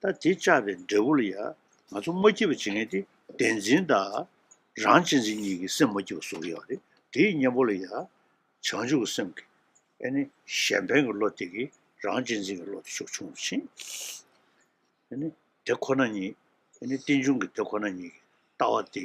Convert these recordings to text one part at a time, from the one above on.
ད་དེ་བཅག་པའི་འབྲས་བུ་ལ་ཡང་ང་ཚོ་མ་སྐྱིད་པ་བྱེད་མཁན་དེ་བདེན་འཛིན་དང་རང་གཅེས་འཛིན་གཉིས་ཀྱི་སེམས་མ་སྐྱིད་པ་བཟོ་གི་ཡོད་རེད་དེའི་གཉེན་པོ་ལ་ཡང་བྱང་ཆུབ་ཀྱི་སེམས་ཀྱི་ཨེ་ནི་གཞན་ཕན་གྱི་བློ་དེ་གི་རང་གཅེས་འཛིན་གྱི་བློ་དེ་ཕྱོགས་ཆུང་དུ་ཕྱིན་ཨེ་ནི་དེ་ཁོ་ན་ཉིད་ཨེ་ནི་རྟེན་འབྱུང་གི་དེ་ཁོ་ན་ཉིད་ཀྱི་ལྟ་བ་དེ་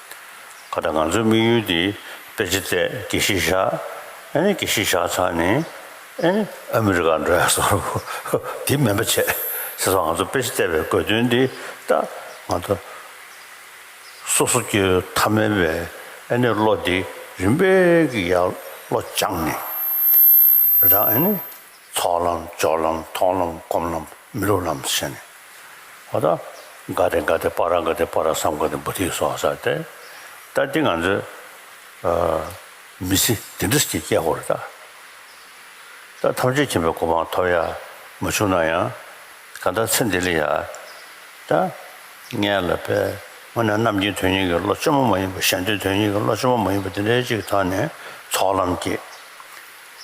ཁ་དང་ང་ཚོའི་དམིགས་ཡུལ་དེ་དཔེ་ཆ་བཙལ་དགེ་བཤེས་བཞག་ཨེ་ནི་དགེ་བཤེས་བཞག་ཚར་ནས་ཨེ་ནི་ཨ་མི་རི་ཀར་འགྲོ་ཡག་སོང་ཧཧཧཧ་དེ་སྨན་པ་བྱས་ཟེར་སོང་ང་ཚོ་དཔེ་ཆ་བཙལ་བའི་དགོས་དོན་དེ་ད་ང་ཚོ་སོ་སོ་སྐྱེ་བོའི་ཐ་མལ་བའི་ཨེ་ནི་བློ་དེ་རིམ་པས་ཀྱི་ཡར་བློ་སྦྱངས་ནས་རང་ཨེ་ནི། ཚོགས་ལམ་སྦྱོར་ལམ་མཐོང་ལམ་སྒོམ་ལམ་མི་སློབ་ལམ་ཞེས་ནི། ཨོ་ད། དགའ་དེ་དགའ་དེ་པ་ར་དགའ་དེ་པ་ར་བསམ་དགའ་དེ་བུ་ཐིག་སོགས་ཟེར་ཏེ། ད་འདི་ང་ཚོའི། མི་ཚེ་འདི་འདྲ་ཞིག་སྐྱེལ་དགོས་རེད་ད། ད་ཐམས་ཅད་མཁྱེན་པའི་གོ་འཕང་ཐོབ་ཡ་མ་བྱུང་ན་ཡང། གང་ལྟར་ཚེ་འདི་ལས་ཡ། ད། ངན་ལ་བས། དངོས་ནས་རྣམ་མཁྱེན་དོན་གཉེར་གྱི་བློ་བཅོ་མོ་མ་ཡིན་པ་ཞལ་འདོན་དོན་གཉེར་གྱི་བློ་བཅོ་མོ་མ་ཡིན་པ་འདི་འདྲའི་ཅིག་ཐོན་ནས་ཚོགས་ལམ་སྐྱེས།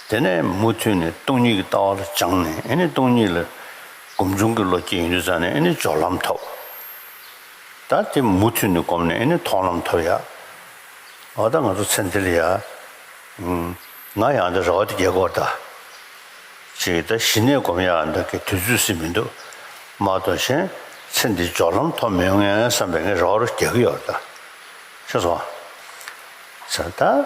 དེ་ནས་མུ་མཐུད་ནས་སྟོང་ཉིད་ཀྱི་ལྟ་བ་ལ་སྦྱངས་ནས་ཨེ་ནི་སྟོང་ཉིད་ལ་སྒོམ་བྱུང་གི་ལོ་བསྐྱེད་ཡིན་དུས་ཙམ་ནས་ཨེ་ནི་སྦྱོར་ལམ་ཐོབ། ད་དེ་མུ་མཐུད་ནས་བསྒོམས་ནས་ཨེ་ནི་མཐོང་ལམ་ཐོབ། ཡ། འོ་ད་ང་ཚོ་ཚེ་འདི་ལ་ཡ། ང་ཡང་འདི་ར་བ་འདི་རྒྱལ་དགོས་ད། ཅེས་ད་ཞི་གནས་བསྒོམ་ཡ་འདི་གི་དུས་ཚོད་ཟིན་མི་འདུག་མ་གཏོགས་གཞན་ཚེ་འདི་སྦྱོར་ལམ་ཐོབ་མི་ཡོང་ངས་བསམ་པས་ངས་ར་བ་རུ་རྒྱལ་གི་ཡོད་ད། ཤེས་སོང་ང། ད།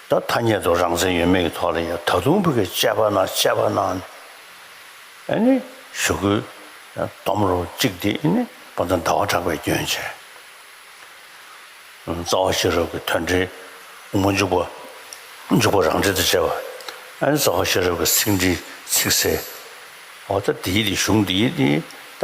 ད་ཐ་སྙད་དུ་རང་མཚན་ཡོད་མེད་ཀྱི་ཐོག་ལ་ཡང་ད་དུང་བོད་ཀྱི་དཔྱད་པ་ན་དཔྱད་པ་ན་ཨེ་ནི་ཞུ་དགོས་སྟོམ་རོ་གཅིག་འདི་ཨེ་ནི་པོ་ཏོ་ཟླ་བ་གྲགས་པའི་སྐྱོན་ཆེ་རྩ་བ་ཤེས་རབ་ཀྱི་དོན་འདྲི་མོ་འཇུག་པ་འཇུག་པ་རང་འགྲེལ་དུ་བྱས་པ་ཨེ་ནི་རྩ་བ་ཤེས་རབ་ཀྱི་ཚིག་འདྲི་ཚིག་གསལ་འོ་ད་དེའི་དེ་གཞུང་འདིའི་དེ་ད་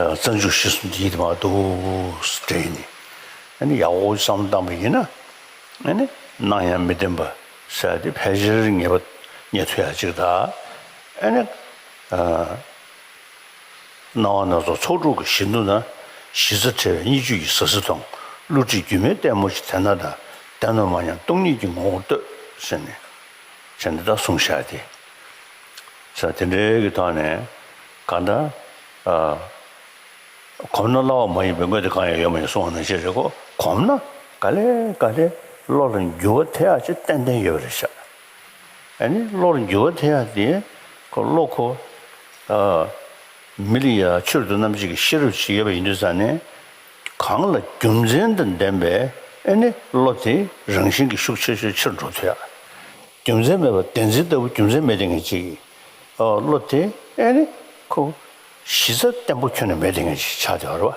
རྩ་འཇུག་གཞི་གསུམ་དེ་ཡིད་དུ་མ་འདུག་དྲན་ནས་ཡང་ཡག་པོ་བསམ་བཏང་བ་ཡིན་ན། སྣང་ཡང་མི་བདེན་པ་བསལ་ཏེ་ཕལ་ཆེར་ངེས་པ་ཉན་ཐོས་ཡག་ཅིག་དག་སྣང་བ་སྣ་ཚོགས་ཚོགས་དྲུག་གི་གཞི་འདུག་ན་གཞི་རྩ་བྲལ་བའི་གཉིས་བཅུད་ཀྱི་ཟག་ཟི་དང་བསླུ་བྲིད་སྒྱུ་མའི་ལྟད་མོ་ཞིག་དེ་སྣང་དང་བདེན་ནོ་མ་ཡང་སྟོང་ཉིད་ཀྱི་ངོ་བོར་ལྟོས་ཟེར་ནས། བྱས་ནས་ད་གསུངས་བཞག་སྟེ། ས་དེ་འདྲའི་གི་ཐོག་ནས་གང་ལྟར། གོམས་ན་སླ་བ་མ་ཡིན་པའི་དངོས་དེ་གང་ཡང་ཡོད་མ་ཡིན་གསུང་བ་ནང་བཞིན་རེད་ཀོ་གོམས་ན་ག་ལེ་ག་ལེ་བློ་ལ་འགྱུར་བ་ཐེག་ཡག་ཅེས་ཏན་ཏན་ཡོད་པ་རེད་བྱ། ཨ་ནི་བློ་ལ་འགྱུར་བ་ཐེག་ཡག་དེ་ཁོ་བློ་ཁོ། མི་ལ་ཡ་ཕྱིར་དུ་རྣམ་གཅིག་གི་ཤེས་རབ་ཅིག་ཡོད་པ་ཡིན་དུས་ས་ནི། གང་ལ་རྒྱུ་མཚན་དང་ལྡན་པའི་ཨ་ནི་བློ་དེ་རང་བཞིན་གྱིས་ཤུགས་ཆེ་ཤོས་ཕྱིར་འགྲོ་ཐུ་ཡག། རྒྱུ་མཚན་མེད་པར་བདེན་འཛིན་ལྟ་བུ་རྒྱུ་མཚན་མེད་དེ་ངེས་ཅི། བློ་དེ་ཨེ་ནི་ཁོ་བོ། གཞི་རྩ་བརྟན་པོ་ཁྱོན་ནས་མེད་དེ་ངེས་ཅི་ཆགས་བདེ་བ་རེད།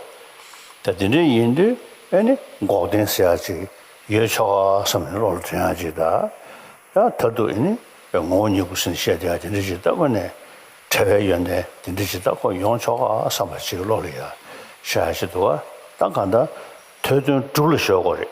ད་དེ་འདྲ་ཡིན་དུས་ཨེ་ནི་འགོག་བདེན་ཟེར་ཡག་ཅིག་ཡོད་ཆོག་ག་བསམ་ནས་བློ་ལ་དྲན་ཡག་ཅིག་གདའ། ད་ད་དུ་ཨེ་ནི་ངོ་བོ་ཉིད་སྐུ་ཟིན་བཤད་བདེ་ཡག་དེ་འདྲ་ཅིག་ལྟ་བ་ནས་བྲལ་བའི་ཡོན་ཏན་དེ་འདྲ་ཅིག་ལྟ་ཁོག་ཡོང་ཆོག་ག་བསམ་པ་ཅིག་བློ་ལ་ཡག་ཤོས་ཡག་ཅིག་འདུག་ག་ད་གང་ལྟར་ཐོས་དོན་གྲུབ་ལ་ཞོག་གོ་རེད།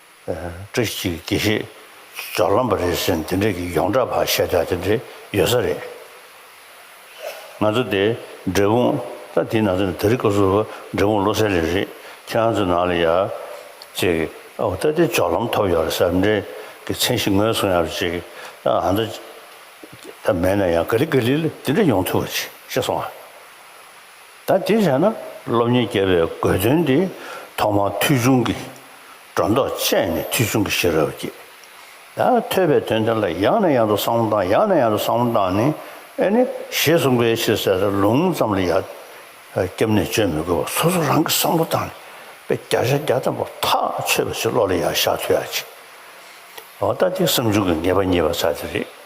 བཀྲ་ཤིས་དགེ་བཤེས་ཟོར་ལམ་པ་རེད་ཟེར་འདི་འདྲས་ཀྱི་ཡོངས་གྲགས་བར་ཤ་རྒྱག་དེ་འདྲས་ཡོད་ས་རེད། ང་ཚོ་དེ་འབྲས་སྤུངས་ད་དེ་ནང་ཚོ་ནས་ད་རི་ཀ་སོ་འབྲས་སྤུངས་བློ་གསལ་ལས་རེད་ཁྱེད་རང་ཚོ་ནང་ལ་ཡག་ཅིག་ཨོ་ད་དེ་ཇོག་ལམ་ཐོབ་ཡོད་རེད་ས་འདྲས་ཀྱི་མཚན་གཞི་ངོས་གཟུང་ཡག་ཅིག་ཨ་མདོ་ད་མེད་ན་ཡང་ག་ལི་ག་ལི་ལ་དེ་འདྲས་ཡོང་ཐུབ་པ་ཅིག་ཤེས་སོང་ཨ། ད་དེ་བྱས་ན་སློབ་གཉེར་རྒྱས་པའི་དགོས་དོན་དེ་ཐོག་མར་མཐུ་ཆུང་གི་སྒྲོ་འདོགས་བཅད་ནས་མཐུ་ཆུང་གི་ཤེས་རབ་བསྐྱེད། ད་ཐོས་པའི་དོན་དེ་ལ་ཡང་ནས་ཡང་དུ་བསམ་བློ་བཏང་ཡང་ནས་ཡང་དུ་བསམ་བློ་བཏང་ནས་ཨེ་ནི་ཞེས་གསུངས་པའི་ཕྱིར་གསལ་སྟོང་ལུང་ཙམ་ལ་ཡར་སྐྱབས་གནས་བཅོལ་མི་དགོས་པར་སོ་སོ་རང་གིས་བསམ་བློ་བཏང་ནས་དཔེ་བརྒྱ་ཆ་བརྒྱ་བསྟན་པ་ཐག་ཆོད་པ་ཞིག་བློ་ལ་ཡར་བཞག་ཐུབ་ཡག་ཅིག་འོང་ད་དེ་བསམ་བྱུང་གི་ངེས་པ་རྙེད་པ་ཚ་དེ་རེད།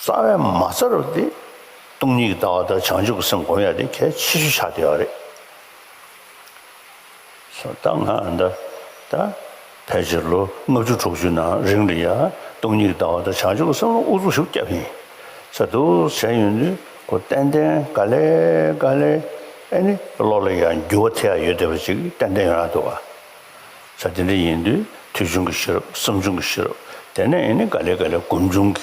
རྩ་བའི་མ་རྩ་རུ་སྟེ། སྟོང་ཉིད་ཀྱི་ལྟ་བ་དང་བྱང་ཆུབ་ཀྱི་སེམས་བསྒོམ་ཡ་དེ་གལ་ཆེ་ཤོས་ཆགས་བསྡད་པ་རེད། ཕལ་ཆེར་ལོ་ལྔ་བཅུ་དྲུག་ཅུའི་ནང་རིང་ལ་ཡང་སྟོང་ཉིད་ཀྱི་ལྟ་བ་དང་བྱང་ཆུབ་ཀྱི་སེམས་ལ་ཨུ་ཚུགས་ཤུགས་བརྒྱབ་ཡིན། ཟེར་འདུག་བྱས་ཡོད་དུས་ཁོ་ཏན་ཏན་ག་ལེ་ག་ལེ་ཨེ་ནི་བློ་ལ་ཡང་འགྱུར་བ་ཐེབས་ཡ་ཡོད་བསྡད་པ་ཅིག་ཏན་ཏན་ཡོད་ན་འདུག་ཨ། ཆ་དེ་འདྲ་ཡིན་དུས་དུས་ཆུང་གི་ཤེས་རབ་བསམ་ཆུང་གི་ཤེས་རབ་དེ་ནས་ཨེ་ནི་ག་ལེ་ག་ལེ་སྒོམ་ཆུང་གི་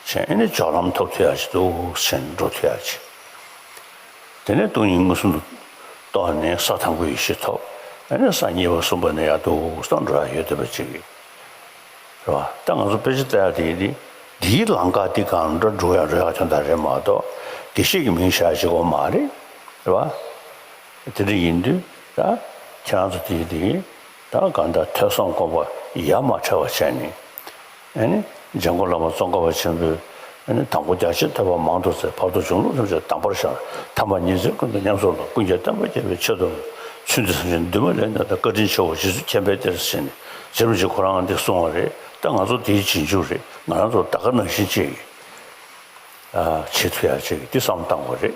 ཆེད་ཨེ་ནི་ཇོག་ལྷམ་ཐོག་ཐུ་ཡག་བྱེད་དུག་ཆེན་འགྲོ་ཐུ་ཡག་བྱེད། དེ་ནས་སྟོང་ཉིད་མངོན་སུམ་དུ་རྟོགས་ནས་ས་དང་པོའི་ཡེ་ཤེས་ཐོབ་ཨེ་ནི་ས་གཉིས་པ་གསུམ་པ་ནས་ཡར་དུག་སང་འགྲོ་ཡག་ཡོད་དོད་པ་ཅིག་རེད་བ། ད་ང་ཚོ་དཔེ་ཆ་བལྟ་ཡག་དེ་ཡིན་དུས་འདིའི་ལང་ཀ་འདི་གང་འདྲ་འགྲོ་ཡག་འགྲོ་ཡག་ཁྱོད་ད་རེད་མ་གཏོགས་དགེ་བཤེས་ཀྱི་མིང་བཞག་བྱེད་དགོས་མ་རེད་བ། དེ་འདྲ་ཡིན་དུས་ད་ཁྱེད་རང་ཚོ་དེ་ཡི་དེ་ཡི་ད་ག་འདྲ་ཐོས་བསམ་སྒོམ་པ་ཡ་མ་བྲལ་བ་བྱས་ནས་ཨཱ་ནི་ཇེ་མགོ་བླ་མ་ཙོང་ཁ་བ་ཆེན་པོའི་ཨཱ་ནི་དང་པོ་རྒྱ་ཆེར་ཐོས་པ་མང་དུ་ཚེ་བར་དུ་གཞུང་ལུགས་ཐམས་ཅད་དམ་པར་བཞག་དམ་པ་ཉིད་ཚེ་ཀུན་ཏུ་ཉམས་སུ་ལོངས་ཀུན་གྱི་བསྟན་པ་རྒྱས་པའི་ཆེད་དུ་ཚུལ་འདི་བསམ་བཞིན་འདུན་མ་ལས་འདའ་ད་བཀའ་དྲིན་ཆེ་བོ་རྗེ་བཙུན་མཁྱེན་པས་གཏེར་བཞེས་ནས་རྗེ་རིན་ཆེན་ཁོ་རང་འདི་གསུང་བ་རེད་ད་ང་ཚོ་དེ་ཡི་རྗེས་འཇུག་རེད་ང་རང་ཚོ་ད་ག་ནང་བཞིན་ཅེས་ཀྱི་ཨ་ཆེས་མཐུ་ཡར་བྱས་ཀྱི་འདི་བསམ་བཏང་བ་རེད།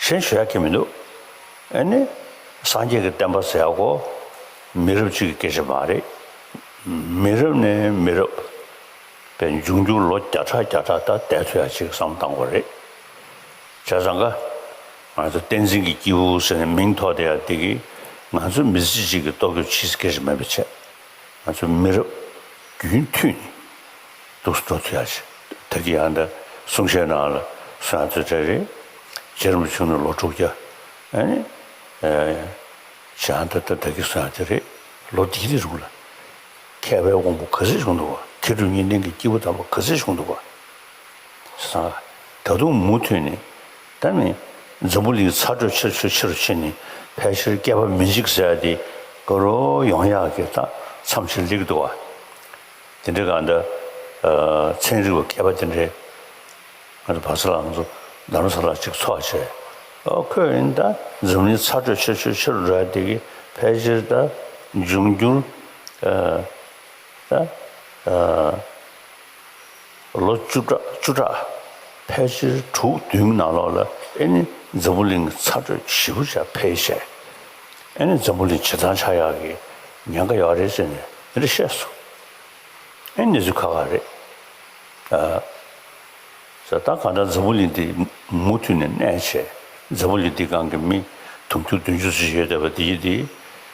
གཞན་ཞུ་ཡག་གི་མི་འདུག་ཨེ་ནི། སངས་རྒྱས་ཀྱི་བསྟན་པ་ཟེར་ཡག་གོ། མི་རབས་གཅིག་གི་སྐད་ཆ་མ་རེད། མི་རབས་ནས་མི་རབས། པའི་འབྱུང་འགྱུར་ལོ་བརྒྱ་ཕྲག་བརྒྱ་ཕྲག་ད་ལྟའི་ཚོད་ཡ་གཅིག་གི་བསམ་བློ་བཏང་དགོས་རེད། བྱས་ཙང་ཀ། ང་ཚོ་བསྟན་འཛིན་གྱི་སྐྱེས་བུ་ཟེར་ནས་མིང་ཐོགས་དེ་ཡ་དེ་གིས་ང་ཚོ་མི་ཚེ་གཅིག་གི་ལྟོ་གོས་ཕྱིས་སྐེ་རི་མེད་པའི་ཆེད་ང་ཚོའི་མི་རབས་རྒྱུན་མཐུད་ནས་སྡུག་སུ་འགྲོ་ཐུབ་ཡག་ཞིག་ད་གི་ཡང་འདྲ་གསུང་བཤད་ནང་ལ་སུ་ཡང་ཚོད་བྲལ་རེད་རྗེ་རིན་པོ་ཆུང་ནི་ལོ་དྲུག་བརྒྱ་ཨེ་ཤི་ཨང་ད་ད་ད་གི་སུ་ཡང་དེ་རེད་ལོ་འདི་འདི་རུང་ལ་མཁས་པའི་དབང་པོ་ག་ཚོད་བྱུང་འདུག་བ་མཁས་གྲུབ་གཉིས་ལྡན་གི་སྐྱེས་བུ་དམ་པ་ག་ཚོད་བྱུང་འདུག་བ་བཟང་ད་དུང་མུ་མཐུད་ནས། ད་ནི་འཛམ་བུ་གླིང་ཚ་དྲོད་ཆེ་ཆོས་ཆེ་རུ་ཕྱིན་ནས་ཕལ་ཆེར་བསྐལ་པ་མི་འཇིག་ཟེར་ཏེ་ཀོ་རོ་ཡོང་ཡག་གི་རྟགས་མཚམས་ཆེར་ལེགས་འདུག་བ། དེ་འདྲ་གང་འདྲ། ཚན་རིག་པ་མཁས་པ་དེ་འདྲས་ང་ཚོ་བག་ཚ་ལགས་ང་ཚོ་རྡ་རམ་ས་ལ་གཅིག་འཚོགས་བྱས། ཨོ་ཁོས་ཨིན་ད་འཛམ་བུ་གླིང་ཚ་དྲོད་ཆེ་ཆོས་ཆེ་རུ་འགྲོ་ཡག་འདུག་གི་ཕལ་ཆེར་ད་འབྱུང་འགྱུར། ད། ལོ་བཅུ་ཕྲག་བཅུ་ཕྲག་ཕལ་ཆེར་དྲུག་བདུན་གྱི་ནང་ལོགས་ལ་ཨེ་ནི་འཛམ་བུ་གླིང་གི་ཚ་དྲོད་ཞི་བུ་ཆ་འཕེལ་བྱས། ཨེ་ནི་འཛམ་བུ་གླིང་བྱེ་ཐང་ཆག་ཡག་གི་ཉེན་ཁ་ཡོད་རེད་ཟེར་ནས་འདི་འདྲ་བཤད་སོང། ཨེ་ནི་གནས་ཚུལ་ཁག་ཁག་རེད། ཟེར། ད་གང་འདྲ་འཛམ་བུ་གླིང་འདི་མུ་མཐུད་ནས་གནས་བྱས་འཛམ་བུ་གླིང་འདི་སྒང་གི་མི་དུང་ཕྱུར་བདུན་ཅུ་ཟེར་ཡོད་བསྡད་པ་འདི་ཡིན་ཏེ།